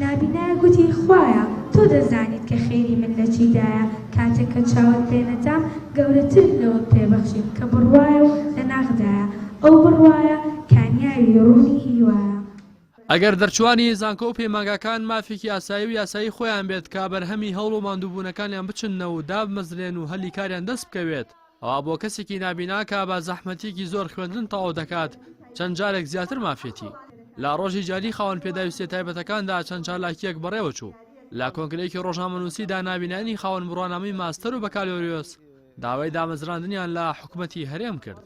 نابینا گوتی، خوایە تۆ دەزانیت کە خێری من لە چیدایە، کاتێک کە چاوت پێ نەدام گەورەترت لەوەت پێ بەخشیم کە بڕوایە و لە ناخدایە، ئەو بڕوایە کانیاوی ڕوونی هیوایە. ئەگەر دەرچووانی زانکۆ و پەیمانگاکان مافێکی ئاسایی و یاسایی خۆیان بێت کە بەرهەمی هەوڵ و ماندووبوونەکانیان بچننەوە و دابمەزرێن و هەلی کاریان دەست بکەوێت، ئەوا بۆ کەسێکی نابینا کە بە زەحمەتیەکی زۆر خوێندن تەواو دەکات چەند جارێک زیاتر مافیەتی. لە ڕۆژی جاری خاوەن پێداویستیە تایبەتەکاندا چەند چالاکیەک بەڕێوە چوو. لە کۆنگرەیەکی ڕۆژنامەنووسیدا نابینایانی خاوەن بڕوانامەی ماستەر و بەکالۆریۆس داوای دامەزراندنیان لە حکومەتی هەرێم کرد.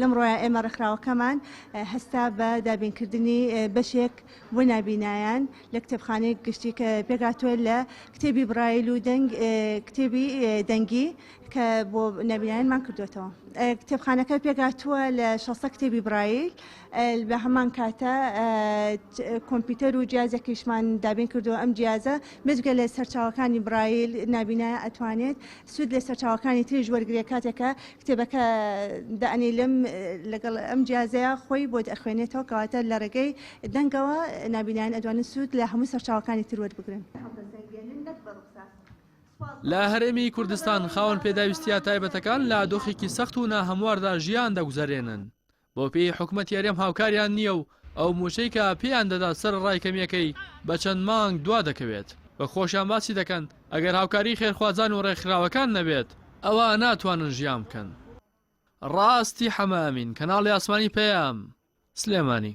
لەمڕۆیە ئێمە ڕێکخراوەکەمان هەستا بە دابینکردنی بەشێک بۆ نابینایان لە کتێبخانەی گشتی کە پێکاتوە لە کتێبی برایل و دەنگ کتێبی دەنگی کە بۆ نابینایانمان کردوێتەوە کتێبخانەکە پێکاتوە لە 16 کتێبی برایل بە هەمان کاتە کۆمپیوتەر و جیازێکیشمان دابین کردو ئەم جیازە مزگە لە سەرچاوەکانی برایل نابینایە ئەتوانێت سوود لە سەرچاوەکانی تریش وەرگرێ کاتێک کە کتێبەکە دائەنیلم لەگەڵ ئەم جیازەیە خۆی بۆت ئەخوێنێتەوە کەواتە لە ڕێگەی دەنگەوە نابینایان ئەدوانن سوود لە هەموو سەرچاوەکانی تر وەربگرن. لە هەرێمی کوردستان خاوەن پێداویستییە تایبەتەکان لە دۆخێکی سەخت و ناهەمواردا ژیان دەگوزەرێنن، بۆ پێی حکومەتی هەرێم هاوکاریان نییە و ئەو مووچەی کە پێیان دەدات سەرەڕای کەمییەکەی بە چەند مانگ دوا دەکەوێت و خۆشیان باسی دەکەن ئەگەر هاوکاری خێرخوازان و ڕێکخراوەکان نەبێت ئەوا ناتوانن ژیان بکەن. ڕاستی حەمە ئەمین، کەناڵی ئاسمانی پەیام، سلێمانی.